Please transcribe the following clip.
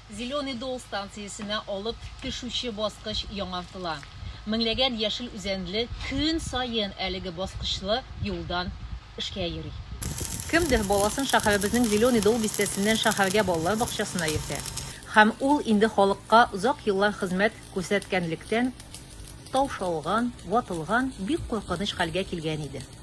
Зеленый Дол станциясенә алып төшүче баскыч яңартыла. Меңләгән яшел үзәнле көн саен әлеге баскычлы юлдан эшкә йөри. Кемдер баласын шәһәребезнең Зеленый Дол бистәсеннән шәһәргә балалар бакчасына йөртә. Һәм ул инде халыкка озак еллар хезмәт күрсәткәнлектән, таушалган, ватылган, бик куркыныч хәлгә килгән иде.